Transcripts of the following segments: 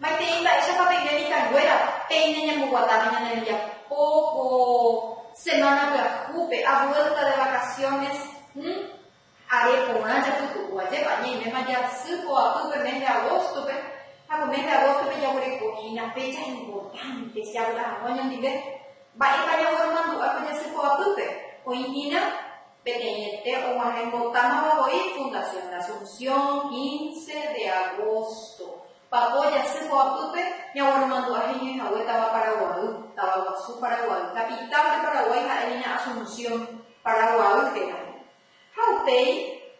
Maitei mba'éichapa peime mitãnguéra peine ñamboguatáva ñane rembiapo ko semana pyahúpe, abuélta de vacaciones, Are porã japytu'u, ajépa ñaiméma jasy ko apýpe mes de agóstope, ha ko mes de agóstope jaguereko hína fécha importante estudiávo la hag̃ua ñandive. Mba'épa jaformandu'a ko jasy ko apýpe? Oĩ hína peteĩete og̃uahẽ mbotámava voi Fundación La Asunción, quince de agosto. Papo jasy ko apýpe ñagueromandu'a heñói hague táva Paraguay, táva guasu Paraguay. Capital de Paraguay ha'e hína Asunción, Paraguay héra. Ha upéi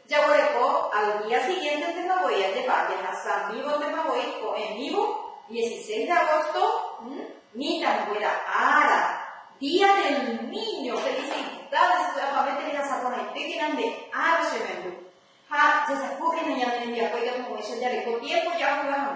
jaguereko al día siguiéntetéma voi ajepa'ã jahasa'amívo téma voi ko'ẽmívo dieciséis de agosto, mitãnguéra ára, Día del Niño, felicidades py'apavẽte rehasa porãitékena nde ára che memby ha jejapókena ñane rembiapo ikatumo'ãicha jareko tiempo jahayhu hag̃ua.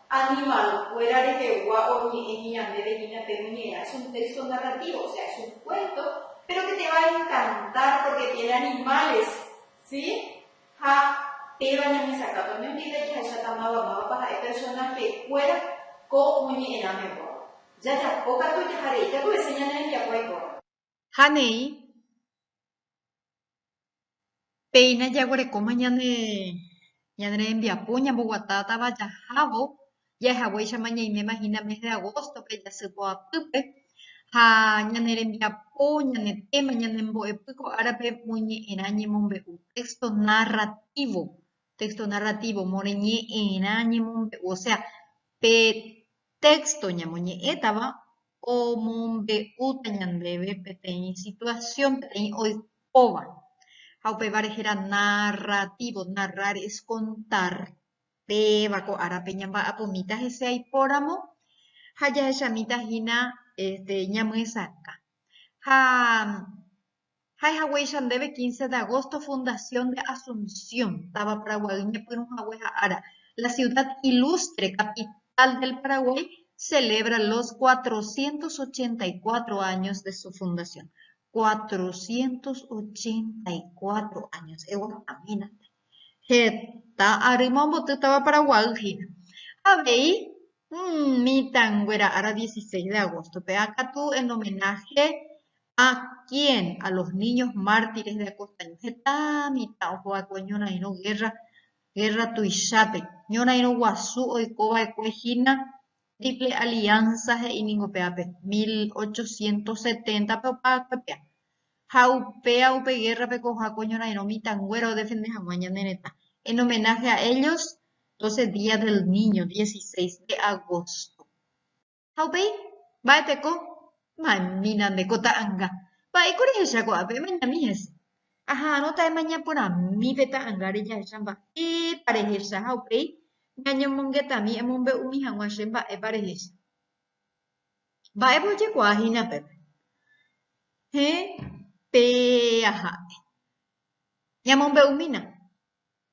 Animal-kuéra rehegua oñe'ẽmi ñandéve hína pe muñera, es un texto narrativo, o sea, es un cuento, pero que te va a encantar porque tiene animales, si? Ha péva ñamesakãta umi undípe jahecháta máva mávapa ha'e personaje-kuéra ko moñe'ẽrãme guáva. Jajapo katu jahare, javy'ese ñane rembiapo aikóramo. ha neĩ péina jaguerekóma ñane ñane rembiapo ñamboguatátava jahávo jahechaguéichama ñaiméma hína mes de agosto-pe jasy poapýpe ha ñane rembiapo ñane téma ñanembo'epy ko árape moñe'ẽrã ñemombe'u texto narrativo texto narrativo moreñe'ẽrã ñemombe'u osea pe texto ñamoñe'ẽtava omombe'úta ñandéve peteĩ situasión, peteĩ oikóva. Ha upéva rehe la narratívo, narrar es kontar, péva ko árape ñamba'apumíta hese aipóramo ha jahechamíta hína este ñamyesakã. Ha. Ha'ehaguéicha ndéve quince de agosto fundación de Asunción, táva Paraguaýgui ñepyrũhague ha ára, la ciudad ilustre, capital del Paraguay, celebra los cuatrocientos ochenta y cuatro años de su fundación. Cuatrocientos ochenta y cuatro años, eguatahámínte. Heta arýma omboty táva Paraguay hína. Avei mitãnguéra ára 16 de agosto-pe akatu en homenaje a quién? A los niños mártires de Acostaño. Heta mitã ohova'ekue ñorairõ guerra, guerra tuichápe, ñorairõ guasu oikova'ekue hína Triple Alianza he'i ningo pe ápe, mil ochocientos seténtape opa kuepia. Ha upéa upe gérrape ko ohako ñorairõ mitãnguéra odefende hag̃ua ñane retã. En homenaje a ellos, doce día del niño, dieciséis de agosto. Ha upéi, mba'eteko ma'ẽmína nde ko ta'anga. Mba'éiko rehecha ko'ápe? Emeñami hese. Aha'arõta emañaporãmi pe ta'angáre jahecha mba'épa rehecha ha upéi ñañomongetami emombe'umi hag̃ua che mba'épa rehecha. Mba'épa ojekuaa hína pépe? Héẽ, pe aha'e. Ñamombe'umína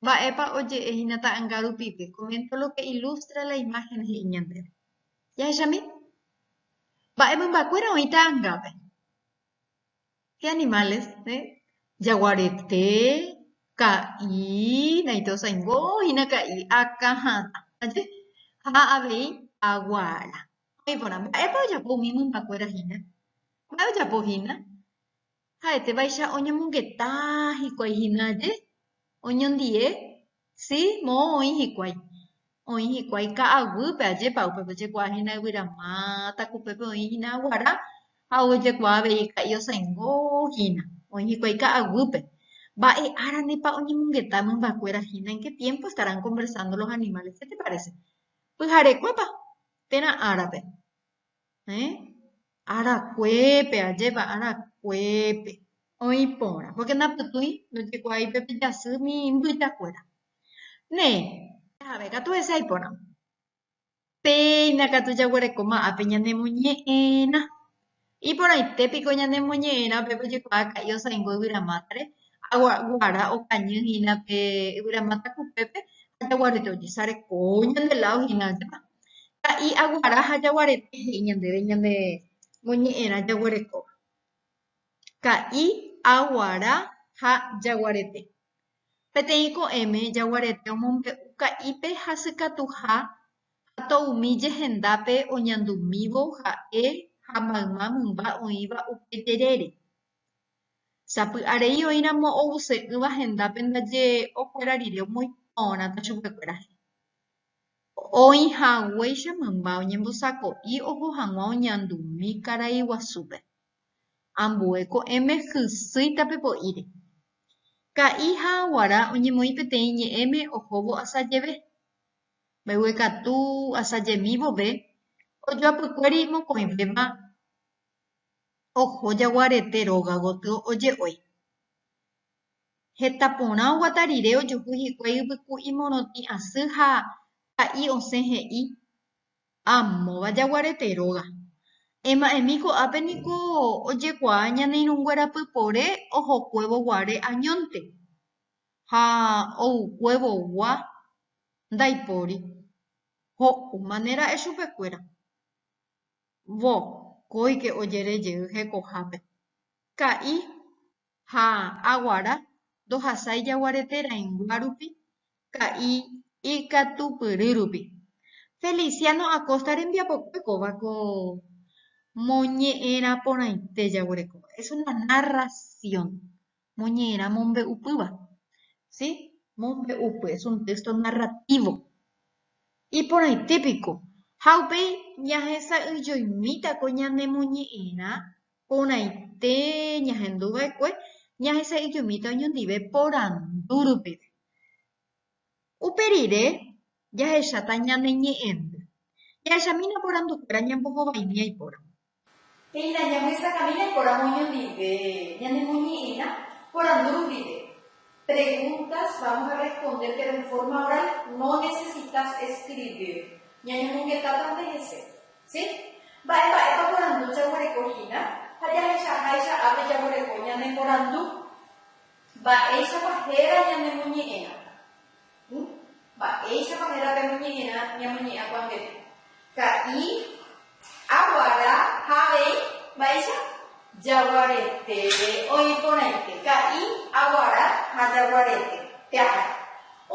mba'épa oje'e hína ta'anga rupive, comento lo que ilustra la imagen he'i ñandéve. Jahechami, mba'e mymbakuéra oĩ ta'angápe. Animales, jagua rete, ka'i, naite osaingo hína ka'i, aka ha atã. Ha avei aguara. He'i porã, mba'épa ojapo umi mymbakuéra hína? Mba'e ojapo hína? Ha'etévaicha oñomongeta hikuái hína aje, oñondive Si, moõ oĩ hikuái. Oĩ hikuái ka'aguýpe, ajépa upépe ojekuaa hína yvyra máta, ko upépe oĩ hína aguara, ha ojekuaa avei ka'i osãingo hína. Oĩ hikuái ka'aguýpe. Mba'e áranepa oñemongeta mymbakuéra hína? En ke tiémpo estarán konversando los animales? Ke te parese? Pyharekuépa térã árape? eh, arakuépe, ajépa, arakuépe oĩ porã, pórke ndapytũi, ndojekuaái pe pijasy umi mbyjakuéra. Ne, jave katu hese aiporã, péina katu jaguerekóma ápe ñanemoñe'ẽrã. Iporãite piko ñanemoñe'ẽrã upépe ojekuaa ka'i osãingo yvyramátare, aguara okañy hína pe yvyramáta kupépe ha jaguarete ojesarekóvo ñande ládo hína, ajépa. Ka'i aguara ha jaguarete he'i ñandéve ñane moñe'ẽrã jaguerekóva. Ka'i aguara ha jaguarete. Peteĩ ko'ẽme jaguarete omombe'u ka'ípe hasykatuha ha toumi jehendápe oñandumívo ha'e ha mayma mymba oĩva upe jerére. Sapy'arei oĩramo oguse'ỹva hendápe ndaje okuera rire omoĩ porãta chupekuéra he'i. Oĩhaguéicha mymba oñembosako'i oho hag̃ua oñandumi karai guasúpe. Ambue ko'ẽme hysýi tape po'íre. Ka'i ha aguara oñemoĩ peteĩ ñe'ẽme ohóvo asa jeve. Mbeguekatu asajemi vove, ojoapykuéri mokõivéva oho jaguarete róga gotyo oje'ói. Heta porã oguata rire ojuhu hikuái yvyku imorotĩ asy ha pa'i osẽ he'i, Amóva jaguarete róga. Ema'ẽmi ko'ápe niko ojekuaa ñane irũnguéra pypore ohokuévo guare añónte ha oukuévo gua ndaipóri. Ho'úmane ra'e chupekuéra. Vokóike ojere jey hekohápe. Ka'i ha aguara ndohasái jaguarete rãingua rupi ka'i ikatupyry rupi. Feliciano Acosta rembiapokue kóva ko moñe'ẽrã porãite jaguerekóva, es una narración, moñe'ẽrã mombe'upýva, si, mombe'upy, es un texto narrativo. Iporãite piko, ha upéi ñahesa'ỹijoimíta ko ñanemoñe'ẽrã Porãite ñahendu va'ekue ñahesa'ijumíta oñondive porandu rupive. Upe rire, jahecháta ñane ñe'ẽndy. Jahechamína porandukuéra ñambohovaimíva ipóramo. Térã jahesakãmína ipóramo oñondive ñanemoñe'ẽrã porandu rupive. Preguntas, vamos a responder pero en forma oral, no necesitas escribir. Ñañomongetáta nde hese. Sí? Mba'e mba'épa porandu jaguereko hína? Ha jahechaháicha ápe jaguereko ñane porandu, mba'éichapa héra ñanemoñe'ẽramo. Hu, mba'éichapa héra pe moñe'ẽrã ñamoñe'ãkuaangeta? Ka'i, aguara ha avei, mba'éicha? Jaguarete, oĩ porãite. Ka'i, aguara ha jaguarete. Peaha.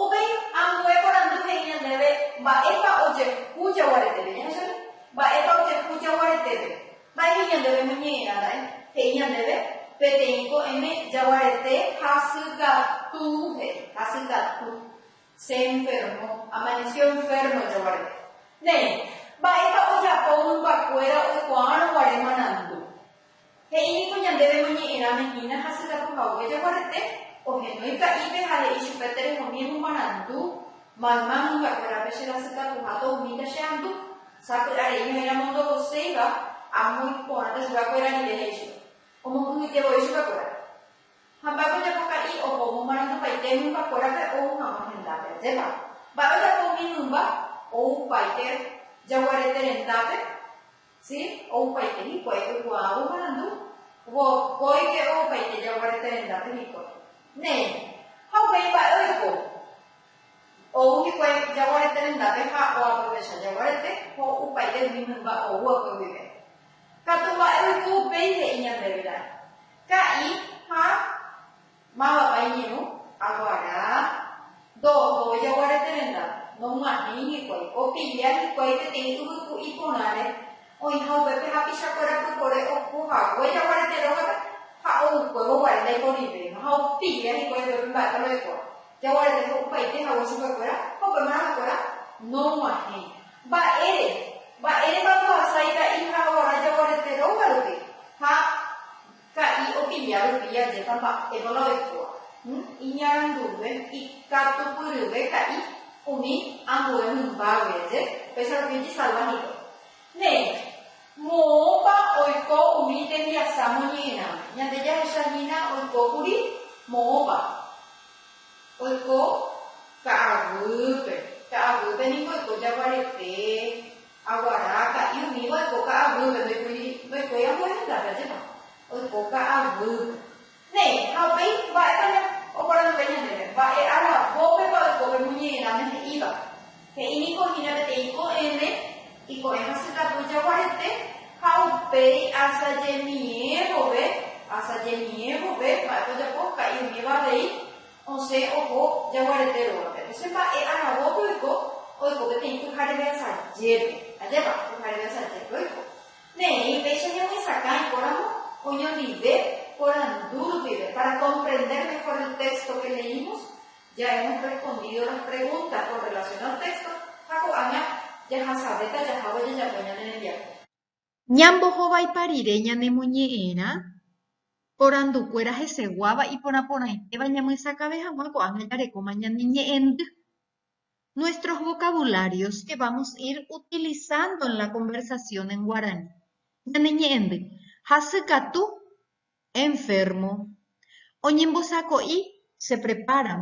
Upéi ambue porandu he'i ñandéve mba'épa ojehu jaguaretépe. Jahecháne? Mba'épa ojehu jaguaretépe. Mba'éicha ñandéve ñoñe'ẽrara'e? He'i ñandéve, Peteĩ ko'ẽme jaguarete hasykatúpe, hasykatu, se enfermó, amaneció enfermo jaguarete. Néi, mba'épa ojapo mymbakuéra oikuaárõ guare marandu? He'i niko ñandéve moñe'ẽrãme hína hasykatu hague jaguarete, ohenói ka'ípe ha he'i chupe terehomíeno marandu, Mayma mymbakuérape cherasykatuha tohumíta che andu. Sapy'a rei ha'éramo ndovoséiva, amo iporãta chuguakuéra rire he'íva. Omokyhyje voi chuguakuéra. Ha mba'e ojapo ka'i oho omomarandupaite mymbakuérape ou hag̃ua hendápe. Ajépa! Mba'e ojapo umi mymba ou paite jaguarete rendápe? Si, oupaite hikuái oikuaávo marandu, vokóike oupaite jagua rete rendápe hikuái. Néi, ha upéi mba'e oiko, ou hikuái jagua rete rendápe ha oaprovecha jagua rete, ho'upaite umi mymba oúakue guive. Katu mba'e oiko upéi he'i ñandéve la, ka'i ha Mávapa iñirũ? Aguará. Ndooho ojaguarete renda, nog̃uahẽi hikuái, opilla hikuái peteĩ yvyku iporãre, oĩha upépe hapichakuéra pypore oho hague jaguarete rógape ha oukuévo guare ndaiporivéima ha opilla hikuái upépe mba'e ohekuaa. Jaguarete ho'upaite hague chupekuéra ha upe marãkuéra nog̃uahẽi. Mba'ére? Mba'érepa ndohasa ita'i ha oguara jaguarete rógarupi ha. Ka'i opilla rupi jajéta mba'épa la oikóva. Iñaranduve ikatupyryve ka'i umi ambue mymba guive, upéicha rupi ojesalva hikuái. Néi, moõpa oiko umi tembiasa moñe'ẽrãme? Ñande jahecha hína oiko kuri moõpa oiko ka'aguýpe. Ka'aguýpe niko oiko jaguarete. Aguara, ka'i umíva oiko ka'aguýpe, ndoikuri, ndoikuéi ambue hendápe ajépa. Oiko ka'aguýpe. Néi, ha upéi, mba'épa ña, oporanduve ñandéve, mba'e aravópepa oiko pe muñe'ẽrãme he'íva. He'i niko hína peteĩ ko'ẽme, iko'ẽ hasykatu jaguarete, ha upéi asajemie vove, asajemie vove, mba'épa ojapo, ka'i umíva avei, Osẽ oho jaguarete rógape. Osẽ mba'e aragópe oiko, oiko peteĩ pyhare veasajépe. Ajépa, pyhare veasajépe oiko. Ne'ẽi péicha ñamoisakã ikóramo oñondive porandu rupive, para comprender mejor el texto que leímos, ya hemos respondido las preguntas con relación al texto ha ko'ág̃a jahasavéta jahávo jajapo ñane rembiapo. Ñambohovaipa rire ñanemoñe'ẽrã porandukuéra heseguáva iporãporãitéva ñamyesakave hag̃ua ko'ág̃a jarekóma ñane ñe'ẽndy. Nuestros vocabularios que vamos ir utilizando en la conversación en guaraní. Ñane ñe'ẽndy, Hasykatu, enfermo. Oñembosako'i, se preparan,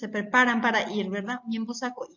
se preparan para ir, ¿verdad? Oñembosako'i.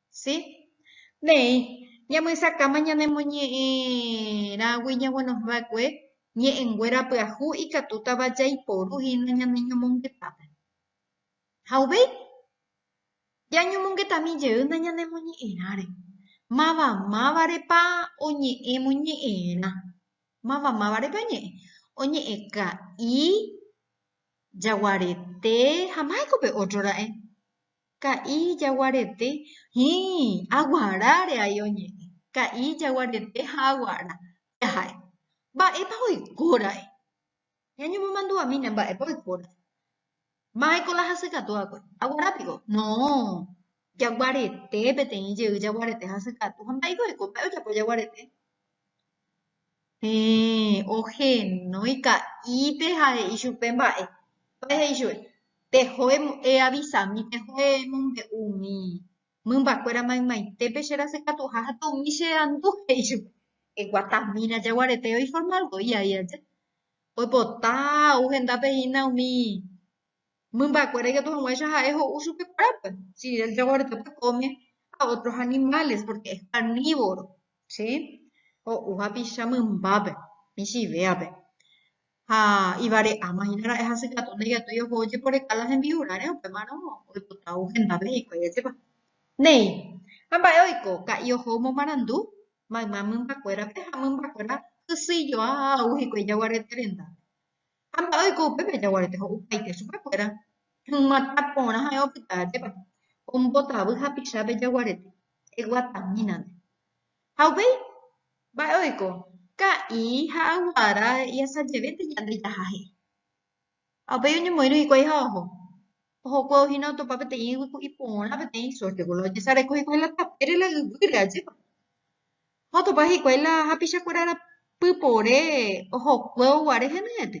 Sí. Néi, ñamysakáma ñanemoñe'ẽrãgui ñaguenohẽ va'ekue ñe'ẽnguéra pyahu ikatútava jaiporu hína ñane ñomongetápe. Ha uvei, jañomongetami jeýna ñanemoñe'ẽrãre, mavamávarepa oñe'ẽmoñe'ẽrã, mavamávarepa oñe'ẽ, oñe'ẽ ka'i, jaguarete ha mba'éko pe ótro ra'e. Ka'i jaguarete Hĩĩ, aguaráre ai oñe'ẽ. Ka'i jaguarete ha aguara jaha'e. Mba'épa oikóra'e? Ñañemomandu'amína mba'épa oikóra'e. Mba'éiko la hasykatu va'ekue? Aguara piko? No, jaguarete peteĩ jey jaguarete hasykatu. Ha mba'éiko oiko? Mba'e ojapo jaguarete? Héẽ, ohenói ka'ípe ha he'i chupe mba'e. Mba'e he'i chupe, pehoe eavisami, pehoe emombe'u umi mymbakuéra maymaitépe che rasykatuha ha tomi che andu, he'i chupe. Eguatamína jaguarete oiforma voi aja. Oipota ou hendápe hína umi Mymba'ekuéra ikatu hag̃uáicha ha'e ho'u chupe kuérape, si él reguardiópe come a ótros animáles, pórke es karnívoro, sí, ho'u hapicha mymbápe, michĩvéape. Ha ivare'áma hína ra'e hasykatu ndaikatúi oho ojeporeka la hembi'urãre, upémarõ oipota ou hendápe hikuái ajépa. Néi, ha mba'e oiko, ka'i oho omomarandu mayma mymba'ekuérape ha mymba'ekuéra hysyijoa ha ou hikuái jaguarete rendápe. Ha mba'e oiko upépe jaguarete ho'upaite chupekuéra, ymatã porã ha'e opyta ajépa, ombotavy hapicha pe jaguarete, eguatamínante. Ha upéi, mba'e oiko, ka'i ha aguara he'iasajevénte ñande jaha he'i. Ha upéi oñemoĩrõ hikuái ha oho, Ohókue ohína otopa peteĩ yvy ku iporã peteĩ sórtego, la ojesareko hikuái la tapére la yvýre, ajépa. Ha otopa hikuái la hapichakuéra rapy pore ohókue oguare henyhẽte,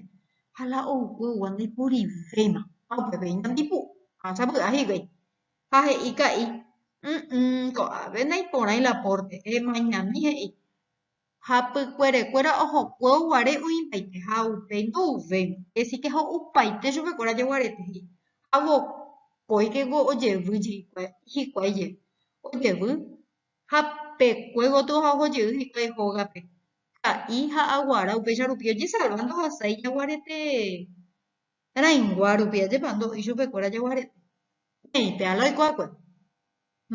ha la oúkue oúva ndaiporivéima, ha upépe iñandipu ha sapy'a hikuái. Ha he'i ka'i, Ỹ'ỹ, ko'ápe ndaiporãi la pórte, emañami, he'i. Ha pykuerekuéra ohokuévo guare oĩtaite ha upéi ndo'uvéima, esike ho'upaite chupekuéra jeguarete he'i, ha vokóikeko ojevy jeikuái hikuái jey, ojevy ha pe kue gotyo ha oho jey hikuái hógape, ka'i ha aguara upéicha rupi ojesalva ndohasái jaguarete rãingua rupi, ajépa ndo'i chupekuéra jeguarete, ne'ĩ pe Ala oikuakuéra,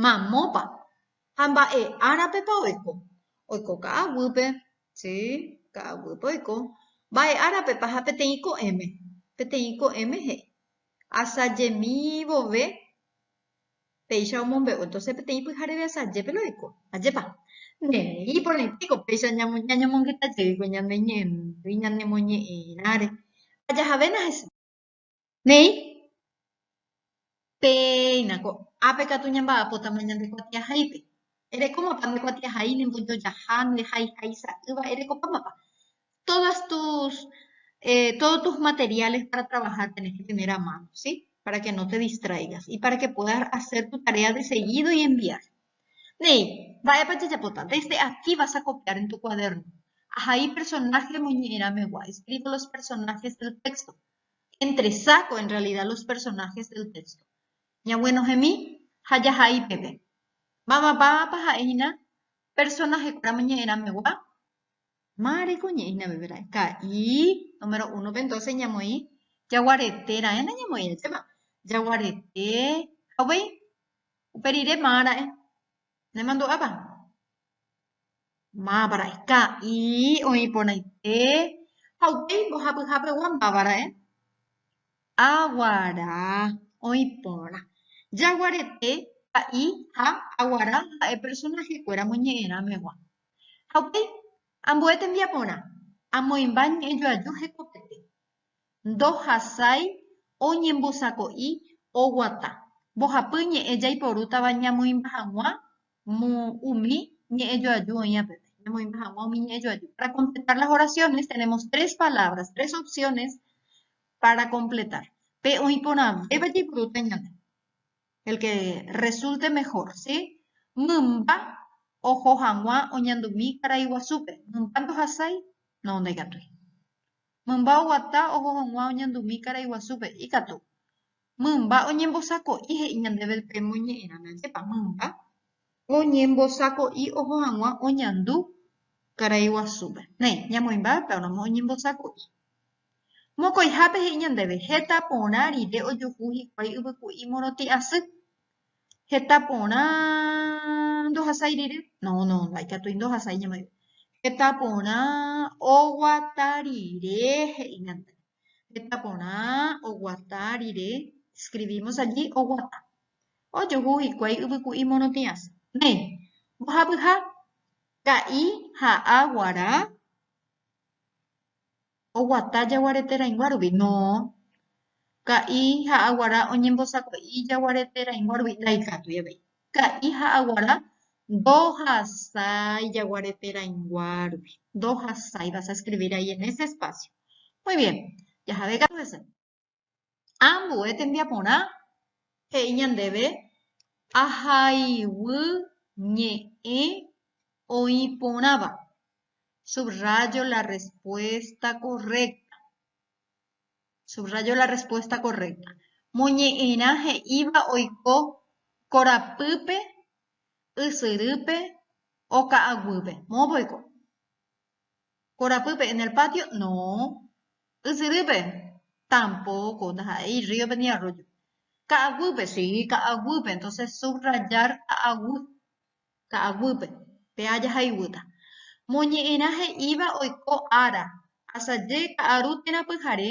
mamópa? Ha mba'e árapepa oiko? Oiko ka'aguýpe, si, ka'aguýpe oiko. Mba'e árapepa ha peteĩ ko'ẽme? Peteĩ ko'ẽme he'i, Asajemi vove péicha omombe'u. Entonces peteĩ pyhareve asajépe la oiko. Ajépa? Nde he'i porãitéko péicha ñañomongyta jeýkuri ñane ñe'ẽmby, ñanemoñe'ẽirãre. Ha jahavéna hese. Néi, péina ko ápe katu ñamba'apótama ñande kuatiahaípe. Erekómapa nde kuatiahai, ne mbojojaha, nde haihai sa'ýva, erekopámapa? Todas tus, eh, todo tus materiales para trabajar tenés que tener a mano, sí? Para que no te distraigas y para que puedas hacer tu tarea de seguido y enviar. Néi, mba'épa jajapóta? Desde aquí vas a copiar en tu cuaderno. Ahai personaje remoñe'ẽramegua, escribo los personajes del texto. Entresaco en realidad los personajes del texto. Ñaguenohẽmi ha jahai peve. Mavamávapa ha'e hína personajekuéra omoñe'ẽramegua? Ma reko ñe'ẽ hína peve ra'e. Ka'i, número uno pe entonces ñamoĩ jaguarete raẽ nañamoĩ ajépa. Jaguarete ha upéi. Upe rire maa ra'e. Nemandu'ápa? Máva ra'e. Ka'i oĩ porãite ha upéi mbohapyha pegua máva ra'e. Aguara oĩ porã. Jaguarete, ka'i ha aguara ha'e personaje kuéra moñe'ẽrã megua. Ha upéi, ambue tembiaporã. Amoĩmba ñe'ẽjoaju hekopete. ndohasái oñembosako'i oguata mbohapy ñe'ẽ jaiporútava ñamoĩmba hag̃ua umi ñe'ẽ joaju oĩ apeve, ñamoĩmba hag̃ua umi ñe'ẽ joaju. Para completar las oraciones tenemos tres palabras, tres opciones para completar. Pe oĩ porãvéva jaiporúta ñande, el que resulte mejor, si? Mymba oho hag̃ua oñandumi karaiguasúpe. Mymba ndohasái? No, ndaikatúi. Mymba oguata oho hag̃ua oñandumi karai guasúpe. Ikatu. Mymba oñembosako'i he'i ñandéve pe moñe'ẽramo. Ajépa mymba oñembosako'i oho hag̃ua oñandu karai guasúpe. Néi, ñamoĩmbáva pe aróma oñembosako'i. Mokõihápe he'i ñandéve, Heta porã rire ojuhu hikuái yvyku'i morotĩ asy. Heta porã ndohasái rire. No, no, no hay katu ndohasái ñemoĩva. Heta porã oguata rire he'ígante. Heta porã oguata rire, escribimos allí oguata. Ojuhu hikuái yvyku'i morotĩ asy. Néi, mbohapyha, ka'i ha aguara oguata jaguareteraĩgua rupi? No. Ka'i ha aguara oñembosako'i jaguareteraĩgua rupi? Ndaikatúi avei. Ka'i ha aguara ndohasái jaguareteraĩgua rupi. Ndohasái. Vas a escribir ahí en ese espacio. Muy bien. Jahave katu hese. Ambue tembiaporã he'i ñandéve ahaiguy ñe'ẽ oĩ porãva. Subrayo la respuesta correcta. Subrayo la respuesta correcta. Moñe'ẽrã he'íva oiko korapýpe, ysyrýpe, oka'aguýpe. Moõpa oiko. Korapýpe, en el patio, no. Ysyrýpe, tampoco, ndaha'éi rríope ni arrójo. Ka'aguýpe, si, ka'aguýpe, entonces subrayar ka'aguy, ka'aguýpe, péa jahaiguýta. Moñe'ẽrã he'íva oiko ára, asaje ka'aru térã pyhare,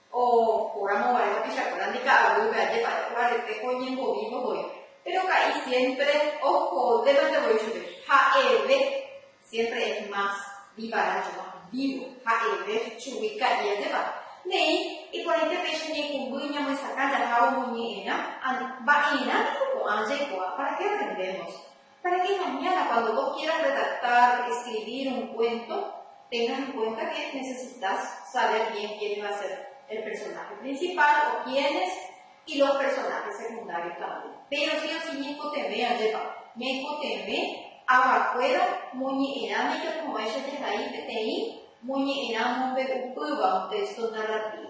Oikóramo guare tapichakuéra nde ka'aguýpe, ajépa jaguarete ko oñembovívo voi. Péro ka'i siémpre ohodévante voi chupe. Ha'eve siémpre es más vívará yo más vívo. Ha'eve chugui ka'i ajépa. Ne'ĩ, iporãite péicha ñaikũmby ñamyesakã jahávo moñe'ẽrã. Mba'erã niko ko'ã jaikuaa? Para ke aprendémos? Para que mañana cuando vos quieras redactar, escribir un cuento, tengas en cuenta que necesitas saber bien quién va a ser el personaje principal o quiénes y los personajes secundarios también. Pero sí o sí ñaikotevẽ ajépa, ñaikotevẽ avakuéra moñe'ẽrã ndajapovaicháicha he'i peteĩ moñe'ẽrã mombe'upýva un texto narrativo.